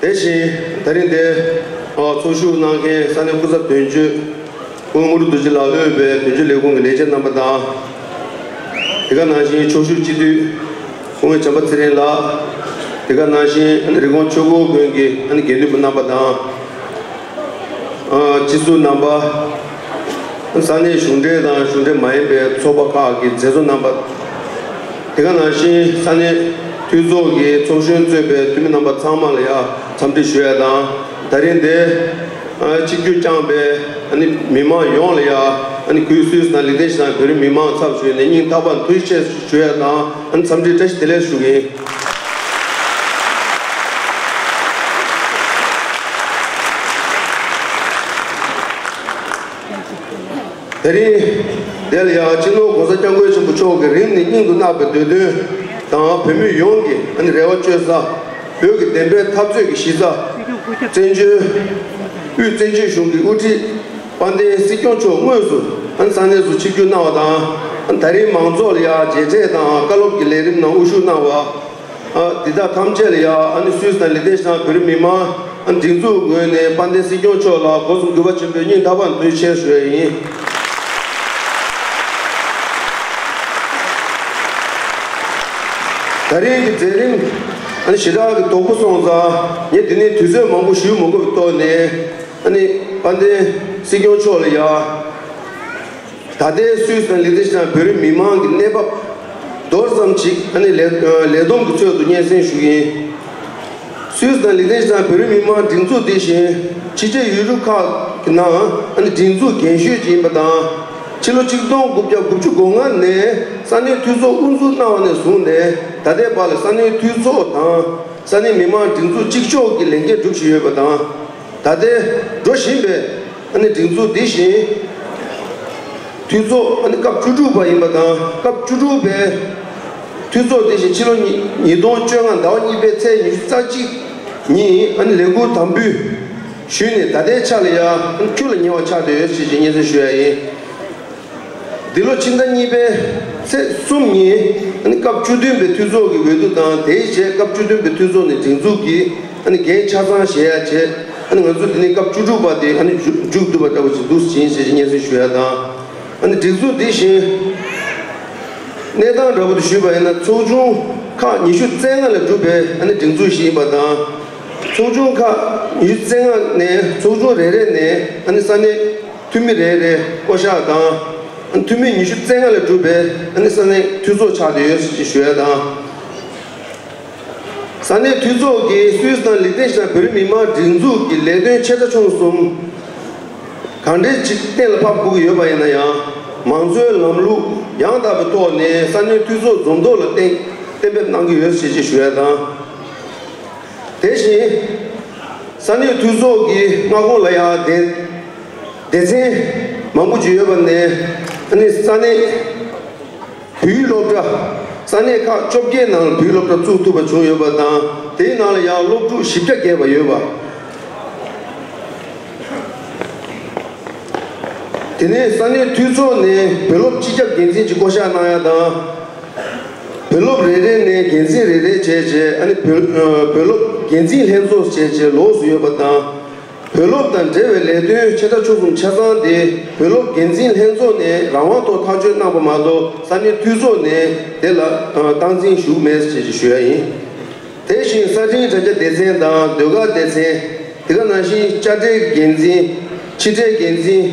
དེ་བཞིན་ད་རིང་འདིར་ཚོགས་ཞུགས་གནང་མཁན་ས་གནས་སྐུ་ཚབ་དོན་གཅོད་དབོན་ངུར་རྡོ་རྗེ་ལགས་དབུས་པའི་དོན་གཅོད་ལས་ཁུངས་ཀྱི་ལས་བྱེད་རྣམ་པ་དང། དེ་ག་ནང་བཞིན་ཕྱོགས་བཞུགས་སྤྱི་འཐུས་ཧོང་བྱམས་པ་ཚེ་རིང་ལགས། དེ་ག་ནང་བཞིན་རི་ཀོང་ཆོས་འཁོར་དགོན་གྱི་དགེ་འདུན་པ་རྣམ་པ་དང། སྤྱི་ཟུར་རྣམ་པ། ས་གནས་གཞུང་འབྲེལ་དང་གཞུང་འབྲེལ་མ་ཡིན་པའི་ཚོགས་པ་ཁག་གི་མཛད་གཙོ་རྣམ་པ། དེ་ག་ནང་བཞིན་ས་གནས་འཐུས་ཚོགས་ཀྱི་ཚོགས་གཞོན་གཙོས་པའི་འཐུས་མི་རྣམ་པ་ཚང་མ་ལ་ཡང་འཚམས་འདྲི་ཞུ་ཡ་དང་ད་རིང་འདས་གཅིག་གྱུར་བསྐྱངས་པའི་མི་དམངས་ཡོངས་ལ་ཡང་གུས་བསུ་དང་ལེགས་ལྡན་ཞུ་དང་བོད་རིགས་མི་དམངས་ཚབ་ཞུས་ནས་སྙིང་ཐག་པ་འཐུལ་ཆེ་ཞུ་ཡ་དང། ཨང་འཚམས་འདྲི་བཀྲ་ཤིས་བདེ་ལེགས་ཞུ་གི་ཡིན། དེ་རིང་འདི་ལ་ཡང་སྤྱི་ནོར ྋགོང་ས ྋསྐྱབས་མགོན་ཆེན་པོ་མཆོག་གི་རིང་ནས་སྙིང་དུ་བརྣག་པའི་འདོད་དོན་དང་བོད་མི་ཡོངས་ཀྱི་རེ་བ་བཅོལ་ས། བོད་ཀྱི་བདེན་པའི་འཐབ་རྩོད་ཀྱི་གཞི་རྩ། བཙན་བྱོལ་དབུས་བཙན་བྱོལ་གཞུང་གི་དབུ་ཁྲིད། དཔལ་ལྡན་སྲིད་སྐྱོང་མཆོག་དངོས་སུ་ས་གནས་སུ་ཆིབས་སྒྱུར་གནང་བ་དང། ད་རིང་མང་ཚོགས་ལ་ཡར་རྒྱས་ཚད་དང་བཀའ་སློབ་ཀྱི་ལས་རིམ་ནང་དབུ་བཞུགས་གནང་བ། འདི་དག་ཐམས་ཅད་ལ་ཡང་སུད་སི་དང་ལི་ཐེ་ཞང་བོད་རིགས་མི་མང་སྒྲིག་འཛུགས་ངོས་ནས་དཔལ་ལྡན་སྲིད་སྐྱོང་མཆོག་ལ་སྒོ་གསུམ་གུས་པ་ཆེན་པོས་སྙིང་ཐག་པ་འདོན་ཆེད་ཞུ་བ་ཡིན། ད་རིང་གི་མཛད་རིམ་ཞེ་དྲག་གི་དོག་པོ་སོང་ཙང་ངས་འདི་ནས་དུས་ཚོད་མང་པོ་ཞུས་མ་དགོས་པའི་ཏོག་ནས། ཨ་ནི་དཔལ་ལྡན་སྲིད་སྐྱོང་མཆོག་ལ་ཡག། ད་ལྟའི་སུད་དང་ལི་ཏི་ཞི་དང་བོད་རིགས་མི་དམངས་ཀྱི་གནས་བབ། མདོར་བསམ་ཅིག་ཨ་ནི་ལས་ལས་བསྡོམས་ཀྱི་ཚོད་དུ་སྙན་སེང་ཞུ་གིན། སུད་དང་ལི་ཏི་ཞི་དང་བོད་རིགས་མི་དམངས་སྒྲིག་འཛུགས་འདི་བཞིན་ཕྱི་རྒྱལ་ཡུལ་གྲུ་ཁག་གི་ནང་ཨ་ནི་སྒྲིག་འཛུགས་རྒན་ཤོས་ཅིག་ཡིན་པ་དང། ཕྱི་ལོ་གཅིག་སྟོང་དགུ་བརྒྱ་དགུ་བཅུ་དགུ་ལྔ་ནས་ས་གནས་འཐུས་ཚོགས་དབུ་འཛུགས་གནང་བ་ནས་བཟུང་ནས་ད་ལྟའི་བར་ལ་ས་གནས་འཐུས་ཚོགས་དང་ས་གནས་མི་དམངས་སྒྲིག་འཛུགས་གཅིག་ལྕོགས་ཀྱི་ལས་འགན་སྒྲུབ་བཞིན་ཡོད་པ་དང། ད་ལྟའི་འགྲོ་བཞིན་པའི་སྒྲིག་འཛུགས་འདི་བཞིན་འཐུས་ཚོགས་སྐབས་བཅུ་དྲུག་པ་ཡིན་པ་དང་སྐབས་བཅུ་དྲུག་པའི་འཐུས་ཚོགས་དེ་བཞིན་ཕྱི་ལོ་ཉིས་སྟོང་བཅོ་ལྔ་ཟླ་བ་གཉིས་པའི་ཚེས་ཉི་ཤུ་རྩ་གཅིག་ཉིན་ལས་འཁུར་དམ་འབུལ་ཞུས་ནས་ད་ལྟའི་ཆ་ལ་ཡང་ཁྱུ་ལ་ཉེ་བ་ཆགས་བསྡད་ཡོད་ཅེས་ཀྱི་སྙན་སེང་ཞུ་ཡ་ཡིན། འདི་ལོ་ཕྱི་ཟླ་གཉིས་པའི་ཚེས་གསུམ་ཉིན་སྐབས་བཅུ་བདུན་པའི་འཐུས་ཚོགས་ཀྱི་འོས་བསྡུ་དང་དེའི་རྗེས་སྐབས་བཅུ་བདུན་པའི་འཐུས་ཚོགས་ནས་སྒྲིག་འཛུགས་ཀྱི་འགན་ཆ་ཚང་བཞེས་ཡ་བྱས། ང་ཚོ་འདི་ནས་སྐབས་བཅུ་དྲུག་པ་དེ་མཇུག་བསྡུ་བ་ལྟ་བུ་ཞིག་འདུག་ཟིན་ཞེས་སྙན་སེང་ཞུ་ཡ་དང། སྒྲིག་འཛུགས་འདི་བཞིན་གནས་སྟངས་འདྲ་པོ་དུ་ཞུས་པ་ཡིན་ན་ཚོགས་ཆུང་ཁག་ཉི་ཤུ་རྩེ་ལྔ་ལ་གྲུབ་པའི་སྒྲིག་འཛུགས་ཤིག་ཡིན་པ་དང། ཚོགས་ཆུང་ཁག་ཉི་ཤུ་རྩེ་ལྔ་ནས་ཚོགས་ཆུང་རེ་རེ་ནས་ས་གནས། འཐུས་མི་རེ་རེས་བསྐོ་གཞག་དང། འཐུས་མི་ཉི་ཤུ་རྩེ་ལྔ་ལས་གྲུབ་པའི་ས་གནས་འཐུས་ཚོགས་ཆགས་ཀྱི་ཡོད་ཅེས་ཞུ་ཡ་དང། ས་གནས་འཐུས་ཚོགས་ཀྱིས་སུད་སི་དང་ལི་ཏེ་ཞི་དང་བོད་རིགས་མི་དམངས་སྒྲིག་འཛུགས་ཀྱི་ལས་དོན་ཆེ་ཕྲ་ཆུང་གསུམ་གང་འདྲའི་ཅིག་གཏན་ལ་ཕབ་དགོས་ཀྱི་ཡོད་པ་ཡིན་ན་ཡང། མང་གཙོའི་ལམ་ལུགས་ཡང་དག་པའི་ཐོག་ནས་ས་གནས་འཐུས་ཚོགས་འཛུགས་འདོད་ལ་གཏན་འབེབས་གནང་གི་ཡོད་ཅེས་ཞུ་ཡ་དང། དེ་བཞིན། ས་གནས་འཐུས་ཚོགས་ཀྱི་མངའ་ཁོངས་ལ་ཡང་སྡེ་སྡེ་ཚན་མང་པོ་ཅི་ཡོད་པ་ནས་ནི་ས་གནས་བུའི་སློབ་གྲྭ་ས་གནས་ཁག་བཅོ་བརྒྱད་ནང་བུའི་སློབ་གྲྭ་བཙུགས་ཐུབ་པ་བྱུང་ཡོད་པ་དང་དེའི་ནང་ལ་ཡང་སློབ་ཕྲུག་བཞི་བརྒྱ་བརྒལ་བ་ཡོད་པ། དེ་ནས་ས་གནས་འཐུས་ཚོགས་ནས་བུ་སློབ་སྤྱི་ཁྱབ་འགན་འཛིན་གྱི་བསྐོ་གཞག་གནང་ཡ་དང། བུ་སློབ་རེ་རེ་ནས་འགན་འཛིན་རེ་རེ་བྱས་རྗེས་བུ་སློབ་འགན་འཛིན་ལྷན་ཚོགས་བྱས་རྗེས་ལོགས་སུ་ཡོད་པ་དང། བུ་སློབ་དང་འབྲེལ་བའི་ལས་དོན་ཆེ་ཕྲ་ཆུང་གསུམ་ཆ་ཚང་དེ་བུ་སློབ་འགན་འཛིན་ལྷན་ཚོགས་ནས་རང་དབང་ཐོག་ཐག་གཅོད་གནང་པ་མ་གཏོགས་ས་གནས་འཐུས་ཚོགས་ནས་དེ་ལ་སྟངས་འཛིན་ཞུ་མེད་ཅེས་ཞུ་ཡ་ཡིན། དེ་བཞིན་གསར་འཕྲིན་དྲ་རྒྱ་སྡེ་ཚན་དང་ཟློས་གར་སྡེ་ཚན། དེ་ག་ནང་བཞིན་དཔྱ་ཁྲལ་འགན་འཛིན། ཕྱི་ཁྲལ་འགན་འཛིན།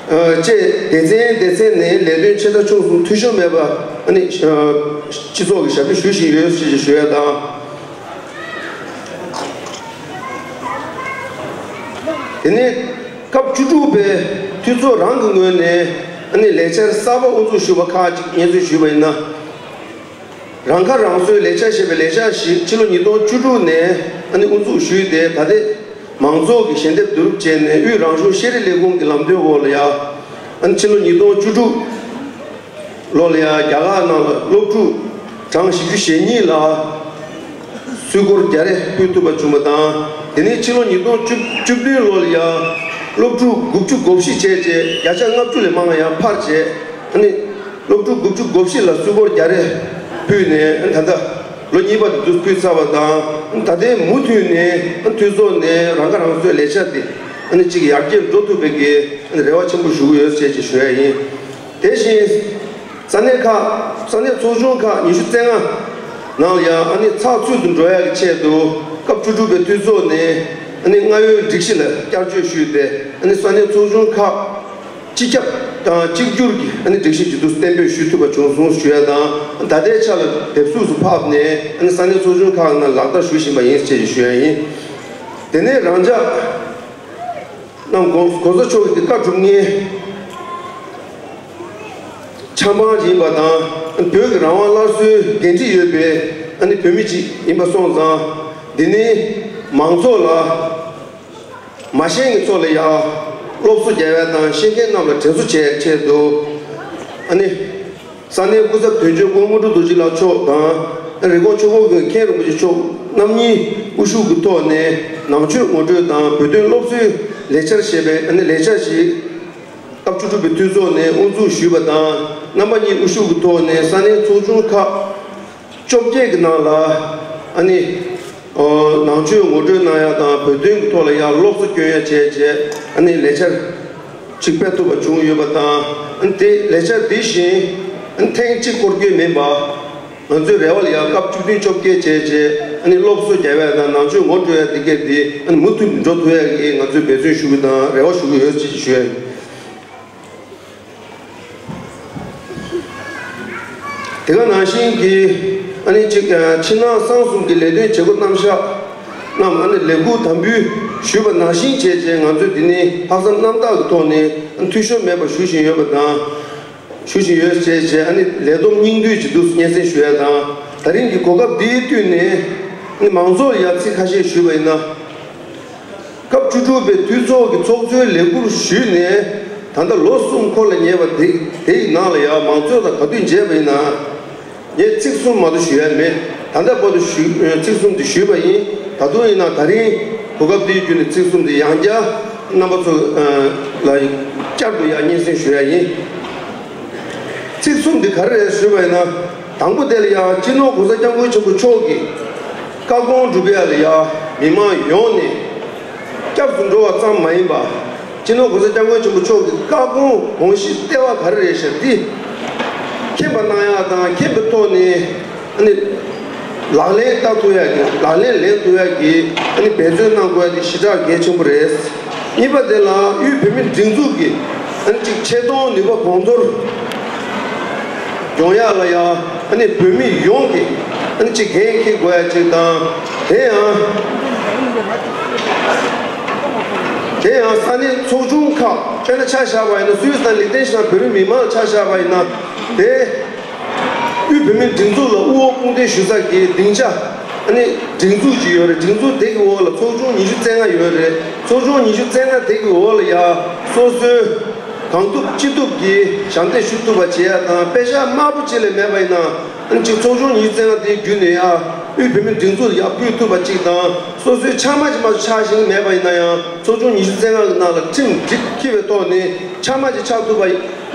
བཅས་སྡེ་ཚན་སྡེ་ཚན་ནས་ལས་དོན་ཆེ་ས་ཆུང་གསུམ་འཐུས་ཤོར་མེད་པ། སྤྱི་ཚོགས་ཀྱི་ཞབས་ཞུ་ཞུ་བཞིན་ཡོད་ཅེས་ཞུ་ཡ་དང། དེ་ནས་སྐབས་བཅུ་དྲུག་པའི་འཐུས་ཚོགས་རང་གི་ངོས་ནས་ལས་འཆར་གསར་པ་དབུ་འཛུགས་ཞུ་བ་ཁག་ཅིག་བརྙན་བཟོས་ཞུས་པ་ཡིན་ན། རང་ཁ་རང་གསོའི་ལས་འཆར་ཞེས་པའི་ལས་འཆར་ཞིག་ཕྱི་ལོ་ཉིས་སྟོང་བཅུ་དྲུག་ནས་དབུ་འཛུགས་ཞུས་ཏེ་ད་ལྟའི་མང་ཚོགས་ཀྱི་ཞལ་འདེབས་བསྡུ་རུབ་བྱས་ནས་དབུས་རང་གཞུང་ཤེས་རིག་ལས་ཁུངས་ཀྱི་ལམ་སྟོན་འོག་ལ་ཡང་ཕྱི་ལོ་ཉིས་སྟོང་བཅུ་དྲུག་ལོ་ལ་ཡང་རྒྱ་ལག་ནང་ལ་སློབ་ཕྲུག་གྲངས་བཞི་བཅུ་ཞེ་གཉིས་ལ་སུས་སྒོར་བརྒྱ་རེ་ཕུལ་ཐུབ་པ་བྱུང་བ་དང་དེ་ནས་ཕྱི་ལོ་ཉིས་སྟོང་བཅུ་བདུན་ལོ་ལ་ཡང་སློབ་ཕྲུག་དགུ་བཅུ་གོ་བཞི་བྱས་རྗེས་བརྒྱ་ཆ་ལྔ་བཅུ་ལས་མང་ཡང་འཕར་བྱས་ནས། སློབ་ཕྲུག་དགུ་བཅུ་གོ་བཞི་ལ་སུལ་སྒོར་བརྒྱ་རེ་ཕུལ་ནས་ད་ལྟ་ལོ་གཉིས་པ་དུ་ཕུད་ཚར་བ་དང་ད་ལྟའི་མུ་མཐུད་ནས་མཐུད་ཚོགས་ནས་རང་ཁ་རང་གསོའི་ལས་བྱ་དེ་གཅིག་ཡར་རྒྱས་འགྲོ་ཐུབ་པའི་དགེ་རེ་བ་ཆེན་པོ་ཞུ་གི་ཡོད་ཅེས་ཀྱིས་ཞུ་ཡ་ཡིན། དེ་བཞིན་ས་གནས་ཁག་ས་གནས་ཚོགས་ཆུང་ཁག་ཉི་ཤུ་རྩེ་ལྔ་ནང་ལ་ཡང་ཚགས་ཚུད་དུ་འགྲོ་ཡ་གི་ཆེད་དུ་སྐབས་བཅུ་དྲུག་པའི་མཐུད་ཚོགས་ནས་སྔ་ཡོལ་སྒྲིག་གཞི་ལ་བསྐྱར་བཅོས་ཞུས་ཏེ་ས་གནས་ཚོགས་ཆུང་ཁག་སྤྱི་ཁྱབ་དང་གཅིག་གྱུར་གྱིས་སྒྲིག་གཞི་ཇེ་བསྡུ་བརྟན་པོས་ཞུས་ཐུབ་པ་བྱུང་སོང་ཞུ་ཡ་དང་ད་ལྟའི་ཆ་ལ་དེབ་གཟུགས་སུ་ཕབ་ནས་ས་གནས་ཚོགས་ཆུང་ཁག་ནང་ལག་བསྟར་ཞུ་བཞིན་པ་ཡིན་ཅེས་ཞུ་ཡ་ཡིན། དེ་ནས་རང་ཅག་རྣམས་གོང་གོང་ས་མཆོག་གི་བཀའ་གྲུབ་བརྙན་འཆང་འབངས་ཡིན་པ་དང་བོད་ཀྱི་རང་དབང་སླར་གསོའི་འགན་འཁྲི་ཡོད་པའི་བོད་མི་ཅིག་ཡིན་པ་སོང་ཙང་འདི་ནི་མང་ཚོགས་ལ། མ་ཤེས་ངེ་ཚོགས་ལ་ཡང། སློབ་གསོ་རྒྱལ་བས་དང་ཤེས་མཁན་རྣམས་ལ་དྲན་གསོ་བྱས་ཕྲད་དུ། ཨ་ནི། ས་གནས་སྐུ་ཚབ་དོན་གཅོད་ཀོང་མོ་ཀྲུའུ་རྡོ་རྗེ་ལགས་མཆོག་དང། རེབ་གོང་ཆུ་ཀོང་གི་མཁན་རིན་པོ་ཆེ་མཆོག་རྣམ་གཉིས་དབུ་བཞུགས་ཀྱི་ཐོག་ནས་ནང་ཆོས་ངོ་སྤྲོད་དང་བོད་དོན་སློབ་གསོའི་ལས་འཆར་ཞེས་པའི་ཨ་ནི་ལས་འཆར་ཞིག། སྐབས་བཅུ་དྲུག་པའི་འཐུས་ཚོགས་ནས་དབུ་འཛུགས་ཞུས་པ་དང་རྣམ་པ་གཉིས་དབུ་བཞུགས་ཀྱི་ཐོག་ནས་ས་གནས་ཚོགས་ཆུང་ཁག་བཅོ་བརྒྱད་ཀྱི་ནང་ལ་ཨ་ནི། ནང་ཆོས་ངོ་སྤྲོད་གནང་ཡ་དང་བོད་དོན་གྱི་ཐོག་ལ་ཡང་སློབ་གསོ་སྐྱོན་ཡ་བྱས་རྗེས་ཨ་ནི་ལས་འཆར་གཅིག་སྤེལ་ཐུབ་པ་བྱུང་ཡོད་པ་དང། དེ་ལས་འཆར་འདི་བཞིན་ཐེངས་གཅིག་སྐོར་སྐྱོན་མིན་པ། ང་ཚོའི་རེ་བ་ལ་ཡང་སྐབས་བཅུ་བདུན་བཅོ་བརྒྱད་བྱས་རྗེས་ཨ་ནི་སློབ་གསོ་རྒྱ་བས་དང་ནང་ཆོས་ངོ་སྤྲོད་ཡ་འདི་གའི་འདི་ཨ་ནི་མུ་མཐུད་འགྲོ་ཐུབ་ཡ་གི་ང་ཚོས་འབད་བརྩོན་ཞུ་གི་དང་རེ་བ་ཞུ་གི་ཡོད་ཅེས་བརྗོད། དེ་ག་ནང་བཞིན་གྱི་ཨ་ནི་གཅིག་ཕྱི་ནང་གསང་གསུམ་གྱི་ལས་དོན་བྱེད་སྒོ་རྣམ་གཞག་རྣམས་ཨ་ནི་ལས་ཁུར་དམ་འབུལ་ཞུས་པ་ནང་བཞིན་བྱས་རྗེས་ང་ཚོས་འདི་ནི་ལྷག་བསམ་རྣམ་དག་གི་ཐོག་ནས་འཐུས་ཤོར་མེད་པར་ཞུ་བཞིན་ཡོད་པ་དང། ཞུ་བཞིན་ཡོད་ཅེས་བཅས་ཨ་ནི་ལས་བསྡོམས་སྙིང་བསྡུས་ཀྱི་བསྡུས་སྙན་སེང་ཞུ་ཡ་དང། ད་རིང་གི་གོ་སྐབས་འདིའི་བསྟུན་ནས་ཨ་ནི་མང་ཚོགས་ལ་ཡར་ཚིག་ཁ་ཤས་ཞུས་པ་ཡིན་ན། སྐབས་བཅུ་དྲུག་པའི་འཐུས་ཚོགས་ཀྱི་ཚོགས་གཙོའི་ལས་འཁུར་ཞུས་ནས་ད་ལྟ་ལོ་གསུམ་འཁོར་ལ་ཉེ་བ། དེ་ཡི་ནང་ལ་ཡང་མང་གཙོའི་ལ་ག་དུས་མཇལ་བ་ཡིན་ནའང། ངས་ཚིག་གསུམ་མ་གཏོགས་ཞུ་ཡ་མེད་ད་ལྟ་བར་དུ་ཚིག་གསུམ་དེ་ཞུས་པ་ཡིན་ད་དུང་ཡིན་ནའང་ད་རིང་གོ་སྐབས་འདི་བརྒྱུད་ནས་ཚིག་གསུམ་དེ་ཡང་བསྐྱར་རྣམ་པ་ཚོ་ལ་བསྐྱར་དུ་ཡང་སྙན་སེང་ཞུ་ཡ་ཡིན། ཚིག་གསུམ་དེ་ག་རེ་རེད་ཞུས་པ་ཡིན་ན། དང་པོ་དེ་ལ་ཡང་སྤྱི་ནོར་གོང་ས་སྐྱབས་མགོན་ཆེན་པོ་མཆོག་གིས། བཀའ་དགོངས་སྒྲུབ་པའི་རེ་བ་མི་དམངས་ཡོངས་ནས་སྐྱབས་སུ་འགྲོ་བ་ཙམ་མ་ཡིན་པ། སྤྱི་ནོར་གོང་ས་སྐྱབས་མགོན་ཆེན་པོ་མཆོག་གི་བཀའ་དགོངས་དགོངས་གཞི་ལྟེ་བ་ག་རེ་རེད་ཞབས་འདི་མཁྱེན་པ་གནང་ཡག་དང་མཁྱེན་པའི་ཐོག་ནས་ཨ་ནི་ལག་ལེན་བསྟར་ཐུབ་ཡག་གི་ལག་ལེན་ལེན་ཐུབ་ཡག་གི་ཨ་ནི་འབད་བརྩོན་གནང་དགོས་ཡག་གི་གཞི་གྲགས་གལ་ཆེན་པོ་རེད། གཉིས་པ་དེ་ལ་དབུས་བོད་མིའི་སྒྲིག་འཛུགས་ཀྱི་ཨ་ནི་གཅིག་ཆེ་མཐོང་ནུས་པ་གོང་མཐོར་སྦྱོང་ཡག་ལ་ཡག། བོད་མི་ཡོངས་ཀྱིས་གཅིག་གལ་འཁེལ་དགོས་ཡ་གཅིག་དང། དེ་ཡང། དེ་ཡང་ས་གནས་ཚོགས་ཆུང་ཁག་དཔེར་ན་ཆ་བཞག་པ་ཡིན་ན་སུད་སི་དང་ལིག་ཏེན་ཞི་ཐན་བོད་རིགས་མི་མང་ཆ་བཞག་པ་ཡིན་ན། དེ། དབུས་བོད་མིའི་སྒྲིག་འཛུགས་ལ་དབུ་འོག་དཔུང་འདེགས་ཞུ་ས་དགེ་སྡིངས་ཆ། སྒྲིག་འཛུགས་གཅིག་ཡོད་རེད་སྒྲིག་འཛུགས་དེ་གི་འོག་ལ་ཚོགས་ཆུང་ཉི་ཤུ་རྩེ་ལྔ་ཡོད་རེད་ཚོགས་ཆུང་ཉི་ཤུ་རྩེ་ལྔ་དེ་གི་འོག་ལ་ཡ་སོ་སོའི། གང་ཐུབ་ཅི་ཐུབ་ཀྱིས་ཞབས་འདེགས་ཞུ་ཐུབ་པ་བྱེད་ཡ་དང་པད་ཤག་དམར་པོ་གཅིག་ལས་མེད་པ་ཡིན་ན་ཅིག་ཚོགས་ཆུང་གཉིས་བཙལ་ན་དེའི་བརྒྱུད་ནས་ཨ་དབུས་བོད་མིའི་སྒྲིག་འཛུགས་ལ་ཡར་སྐུལ་ཐུབ་པ་ཅིག་དང་སོ་སོའི་ཕྱགས་མ་ཅི་མ་ཆགས་ཤིང་མེད་པ་ཡིན་ན་ཡང་ཚོགས་ཆུང་ཉི་ཤུ་བཙལ་ན་ནང་ལ་ཁྲིམས་སྒྲིག་འཁྱིལ་བའི་ཐོག་ནས་ཕྱགས་མ་ཅིག་ཆགས་ཐུབ་པ་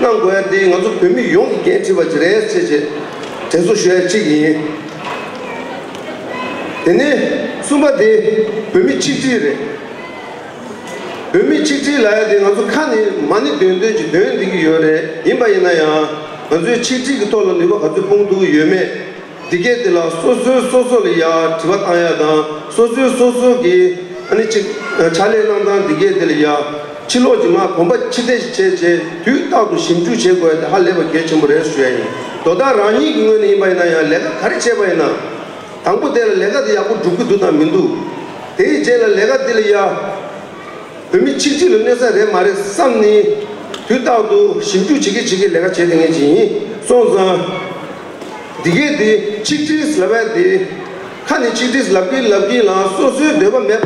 གནང་དགོས་ཡ་དེ་ང་ཚོ་བོད་མི་ཡོངས་ཀྱི་འགན་འཁྲི་བ་ཅིག་རེད་ཅེས་བྱས་དྲན་གསོ་ཞུ་ཡ་གཅིག་ཡིན། དེ་ནས་གསུམ་པ་དེ་བོད་མི་ཆིག་སྒྲིལ་རེད། བོད་མི་ཆིག་སྒྲིལ་ལ་ཡ་དེ་ང་ཚོ་ཁ་ནས་མ་ནི་འདོན་འདོན་ཅིག་འདོན་བསྡད་ཀྱི་ཡོད་རེད་ཡིན་པ་ཡིན་ན་ཡང་ང་ཚོའི་ཆིག་སྒྲིལ་གྱི་ཐོག་ལ་ནུས་པ་ག་ཚོད་སྤུངས་འདུག་ཡོད་མེད་འདི་སྐད་དེ་ལ་སོ་སོའི་སོ་སོ་ལ་ཡ་དྲི་བ་བཏང་ཡ་དང་སོ་སོའི་སོ་སོ་གི་ཨ་ནི་ཅིག་ཕྱག་ལས་གནང་སྟངས་འདི་སྐད་དེ་ལ་ཡ་ཕྱི་ལོགས་ཀྱི་ངག་གོམ་པ་ཕྱི་བདེ་ཞིག་བྱས་རྗེས་དུས་རྟག་ཏུ་ཞིབ་འཇུག་བྱེད་དགོས་ཡ་དེ་ཧ་ལས་པ་གལ་ཆེན་པོ་རེད་ཟེར་ཡ་ཡིན་དོ་ད་རང་ཉིད་ཀྱི་ངོས་ནས་ཡིན་པ་ཡིན་ན་ཡང་ལས་ཀ་ག་རེ་བྱས་པ་ཡིན་ན། དང་པོ་དེ་ལ་ལས་ཀ་དེ་ཡག་པོ་འགྲུབ་ཀྱི་འདུག་དང་མི་འདུག་དེ་ཡི་རྗེས་ལ་ལས་ཀ་འདི་ལ་ཡ། བོད་མི་ཆིག་སྒྲིལ་ལ་གནོད་ས་རེད་མ་རེད་བསམ་ནི། དུས་རྟག་ཏུ་ཞིབ་འཇུག་བྱེད་ཀྱི་བྱེད་ཀྱི་ལས་ཀ་བྱས་ཏེ་ངས་བྱས་ཡིན་སོང་ཙང། འདི་གས་འདི་ཆིག་སྒྲིལ་ལབ་ཡ་འདི། ཁ་ནས་ཆིག་སྒྲིལ་ལབ་ཀྱིན་ལབ་ཀྱིན་ལང་སོ་སོའི་འདོད་པ་མེད་པ།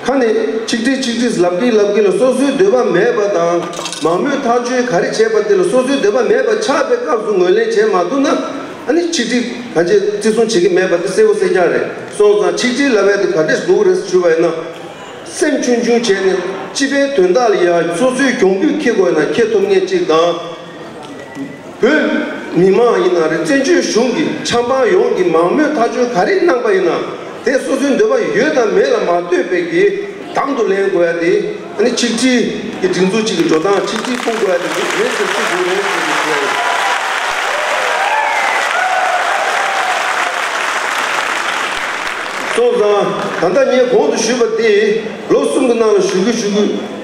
ཁ་ནས་ཆིག་སྒྲིལ་ཆིག་སྒྲིལ་ལབ་ཀི་ལབ་ཀི་ལ་སོ་སོའི་འདོད་པ་མེད་པ་དང་མང་མོས་ཐག་གཅོད་ག་རེ་བྱས་པ་དེ་ལ་སོ་སོའི་འདོད་པ་མེད་པ་ཆགས་པའི་སྐབས་སུ་ངོས་ལེན་བྱས་མ་ཐུབ་ན་ཨ་ནི་ཆིག་སྒྲིལ་ག་བྱེད་བརྩི་སྲུང་བྱེད་ཀི་མེད་པ་དེ་གསལ་བོ་གསལ་རྐྱང་རེད་སོང་ཙང་ཆིག་སྒྲིལ་ལ་བས་དེ་ག་འདྲས་འདུག་རེས་བྱུས་པ་ཡིན་ན་སེམས་ཆུང་ཆུང་བྱས་ནས་སྤྱི་པའི་དོན་དག་ལ་ཡང་སོ་སོའི་གྱོང་གུད་འཁེལ་དགོས་ན་འཁེལ་ཐུབ་ངེས་གཅིག་དང། བོད་མི་མང་ཡིན་ན་རེད་བཙན་བྱོལ་གཞུང་གི་ཆབ་འབངས་ཡོངས་ཀྱི་མང་མོས་མཐའ་འཁྱོལ་ག་རེ་གནང་པ་ཡིན་ན་དེ་སོ་སོའི་འདོད་པ་ཡོད་དམ་མེད་ལ་མ་ལྟོས་པའི་གི་དམ་དུ་ལེན་དགོས་ཡ་དེ་ནི་ཆིག་སྒྲིལ་གི་སྒྲིག་འཛུགས་གཅིག་གི་འགྲོ་སྟངས་ཆིག་སྒྲིལ་སྤུངས་དགོས་ཡ་དེ་རེད་ཟེར་གྱི་འདུག་རེད་ཟེར་གྱི་འདུག་ཨ། སོང་ཙང་ད་ལྟ་ངས་གོང་དུ་ཞུས་པ་དེ་ལོ་གསུམ་གི་ནང་ལ་ཞུ་གི་ཞུ་གི་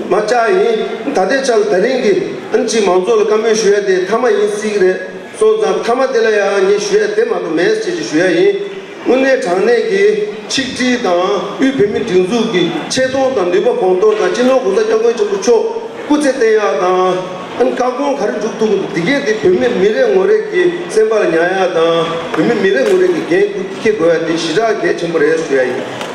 མ་བཅག་ཡིན་ད་ལྟའི་ཆ་ལ་ད་རིང་གི་ཨང་ཅིས་མང་ཚོགས་ལ་བཀའ་མོལ་ཞུ་ཡ་དེ་མཐའ་མ་ཡིན་སྲིད་གི་རེད་སོང་ཙང་མཐའ་མ་དེ་ལ་ཡང་ངས་ཞུ་ཡ་དེ་མ་གཏོགས་མེད་ཅེས་ཀྱི་ཞུ་ཡ་ཡིན། དངོས་གནས་དྲང་གནས་ཀྱི་ཆིག་སྒྲིལ་དང་དབུས་བོད་མིའི་སྒྲིག་འཛུགས་ཀྱི་ཆེ་མཐོང་དང་ནུས་པ་གོང་མཐོར་དང་སྤྱི་ནོར་གོང་ས་སྐྱབས་མགོན་ཆེན་པོ་མཆོག་སྐུ་ཚེ་བརྟན་ཡག་དང། ཨང་བཀའ་དགོངས་ག་རེ་འཇུག་ཐུབ་དགོས་འདུག་འདི་གས་དེ་བོད་མི་མི་རེ་ངོ་རེ་གི་སེམས་པ་ལ་ཉག་ཡག་དང་བོད་མི་མི་རེ་ངོ་རེ་གི་འགན་ཁུར་འཁྱེར་དགོས་ཡ་དེ་ཞི་དྲག་གལ་ཆེན་པོ་རེད་ཞུ་ཡ་ཡིན།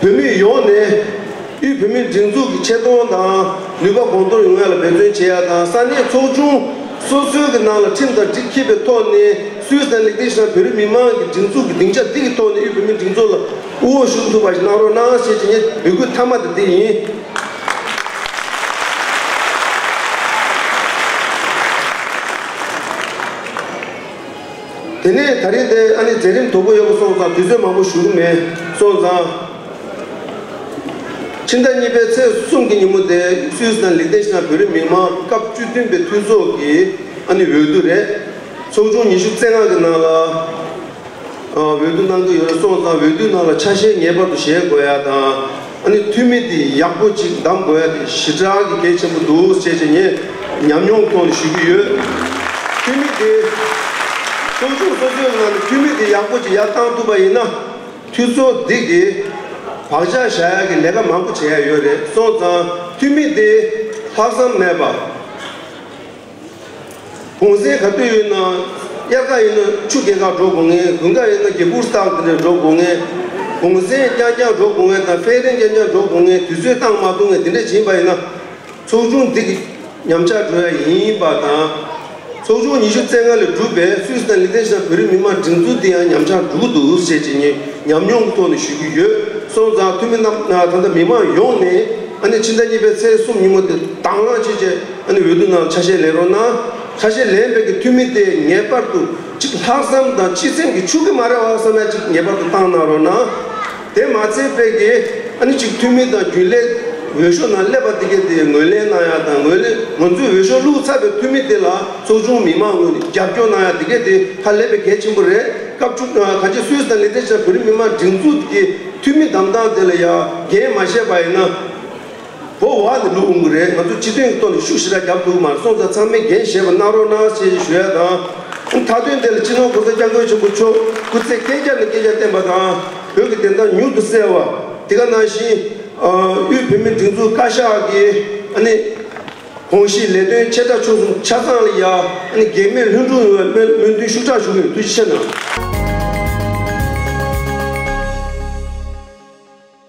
བོད་མི་ཡོངས་ནས་དབུས་བོད་མིའི་སྒྲིག་འཛུགས་ཀྱི་ཆེ་མཐོང་དང་ནུས་པ་གོང་མཐོར་ཡོང་ཡ་ལ་འབད་བརྩོན་བྱེད་ཡ་དང་ས་གནས་ཚོགས་ཆུང་སོ་སོའི་གི་ནང་ལ་ཁྲིམས་དང་སྒྲིག་འཁེད་པའི་ཐོག་ནས་སུའི་ས་ལེགས་ཏེ་ཤང་བོད་རིགས་མི་མང་གི་སྒྲིག་འཛུགས་ཀྱི་སྡིངས་ཆ་འདི་གི་ཐོག་ནས་དབུས་བོད་མིའི་སྒྲིག་འཛུགས་ལ་དབུ་འོག་ཞུགས་ཐུབ་པ་ཞིག་གནང་རོགས་གནང་ཞེས་ཀྱི་ངས་འབོད་སྐུལ་མཐའ་མ་དེ་འདི་ཡིན། དེ་ནས་ད་རིང་དེ་ཨ་ནི་མཛད་རིམ་དོག་པོ་ཡོད་པ་སོང་ཙང་དུས་ཚོད་མང་པོ་ཞུགས་ཀྱི་མེད། སོང་ཙང། ཕྱི་ཟླ་གཉིས་པའི་ཚེས་གསུམ་གྱི་ཉིན་མོ་དེ་སུད་སི་དང་ལིག་ཏེན་ཞི་ནང་བོད་རིགས་མིང་མང་སྐབས་བཅུ་བདུན་པའི་འཐུས་ཚོགས་ཀྱི་ཨ་ནི་འོས་བསྡུ་རེད། ཚོགས་ཆུང་ཉི་ཤུ་རྩེ་ལྔ་གི་ནང་ལ་འོས་བསྡུ་གནང་གི་ཡོད་རེད་སོང་ཙང་འོས་བསྡུའི་ནང་ལ་ཆ་ཤས་ངེས་པར་དུ་བཞེས་དགོས་ཡ་དང། ཨ་ནི་ཐུ་མི་དེ་ཡག་པོ་ཅིག་གདམ་དགོས་ཡ་རེད་ཞི་དྲག་གི་གལ་ཆེན་པོ་འདུག་ཅེས་ཅེས་ངས་ཉམས་མྱོང་ཐོག་ནས་ཞུ་གི་ཡོད། ཐུ་མི་དེ། གསོ་སྦྱོང་གསོ་བཅོས་གནང་སྟེ་ཐུ་མི་དེ་ཡག་པོ་ཅིག་ཡར་བཏང་ཐུབ་པ་ཡིན་ན། ཐུ་ཚོ་འདི་གི་བག་ཆགས་བཞག་ཡ་གི་ལས་ཀ་མང་པོ་བྱེད་ཡ་ཡོད་རེད་སོང་ཙང་ཐུ་མི་དེ་ལྷག་བསམ་མེད་པ། གོང་གསལ་ག་དུས་ཡིན་ན་དབྱར་ཁ་ཡིན་ན་ཆུ་རྒྱལ་ཁ་འགྲོ་དགོས་ངེས་དགུན་ཁ་ཡིན་ན་རྒྱལ་པུར་སྟག་དེ་འདྲས་འགྲོ་དགོས་ངེས། གོང་གསལ་རྐྱང་རྐྱང་འགྲོ་དགོས་ངེས་དང་ཕེ་རེང་རྐྱང་རྐྱང་འགྲོ་དགོས་ངེས་དུས་ཚོད་སྟངས་མ་ཐུག་ངེས་དེ་འདྲས་བྱིན་པ་ཡིན་ན། ཚོགས་ཆུང་འདི་ཉམས་ཆག་འགྲོ་ཡ་ཡིན་པ་དང། ཚོགས་ཆུང་ཉི་ཤུ་རྩེ་ལྔ་ལས་གྲུབ་པའི་སུད་སི་དང་ལི་ཐེ་ཞི་དང་བོད་རིགས་མི་དམངས་སྒྲིག་འཛུགས་འདི་ཡང་ཉམས་ཆག་འགྲོ་གི་འདུག་ཟེར་བྱེད་ཉེས་ཉམས་མྱོང་གི་ཐོག་ནས་ཞུ་གི་ཡོད་སོང་ཙང་འཐུས་མི་རྣམས་ད་ལྟ་མི་མང་ཡོངས་ནས་ཨ་ནེ་ཕྱི་ཟླ་གཉིས་པའི་ཚེས་གསུམ་ཉིན་མོ་དེ་དྭང་བླངས་བྱེད་ཆེད། ཨ་ནི་འོས་བསྡུ་ནང་ཆ་ཤས་ལེན་རོགས་གནང། ཆ་ཤས་ལེན་འབད་ཀྱི་འཐུས་མི་དེ་ངེས་པར་དུ་གཅིག་ལྷག་བསམ་དང་གཅིག་སེམས་ཀྱི་ཆུ་གི་མ་རེད་བ་བསམ་ན་གཅིག་ངེས་པར་དུ་བཏང་གནང་རོགས་གནང། དེ་མ་ཚད་འབད་ཀྱི་ཨ་ནི་གཅིག་འཐུས་མི་དང་རྒྱུན་ལས་འོས་ཤོག་ནང་སླེབས་པ་དེ་གས་དེ་ངོས་ལེན་གནང་ཡག་དང་ངོས་ལེན་ང་ཚོའི་འོས་ཤོག་བླུགས་ཚར་བའི་འཐུས་མི་དེ་ལ་ཚོགས་ཆུང་མི་མང་ངོས་ནས་རྒྱབ་སྐྱོར་གནང་ཡག་དེ་གས་དེ་ཧ་ལས་པའི་གལ་ཆེན་པོ་རེད་སྐབས་བཅུ་ག་ཅིག་སུད་སི་དང་ལི་ཐེ་ཆ་བོད་རིགས་མི་མང་སྒྲིག་འཛུགས་ཀྱི་འཐུས་མི་གདམ་སྟངས་དེ་ལ་ཡག་འགན་མ་བཞེས་པ་ཡིན་ན། བོ་བ་ནི་ལུག་འུང་གི་རེད་ང་ཚོ་སྤྱི་དོན་གྱི་ཐོག་ནས་ཤུགས་ཞེ་དྲག་བརྒྱབ་འདུག་མར་སོང་ཚར་ཚང་མས་འགན་བཞེས་པ་གནང་རོགས་གནང་ཞེས་ཞུ་ཡ་དང། མཐའ་དོན་དེ་ལ་སྤྱི་ནོར་གོང་ས་སྐྱབས་མགོན་ཆེན་པོ་མཆོག་སྐུ་ཚེ་བསྐལ་བརྒྱར་ནས་བསྐལ་བརྒྱར་བརྟན་པ་དང། བོད་ཀྱི་བདེན་མཐའ་མྱུར་དུ་གསལ་བ། དེ་ག་ནང་བཞིན། དབུས་བོད་མིའི་སྒྲིག་འཛུགས་བཀའ་ཤག་གི། གོང་བཞིན་ལས་དོན་ཆེ་ཕྲ་ཆུང་གསུམ་ཆ་ཚང་ལ་ཡང། འགན་མེད་ལྷུན་གྲུབ་ཡོང་བའི་སྨོན་འདུན་ཤུགས་དྲག་ཞུ་གི་ཡོད་འདུག་ཕྱི་ཕྱི་ནང།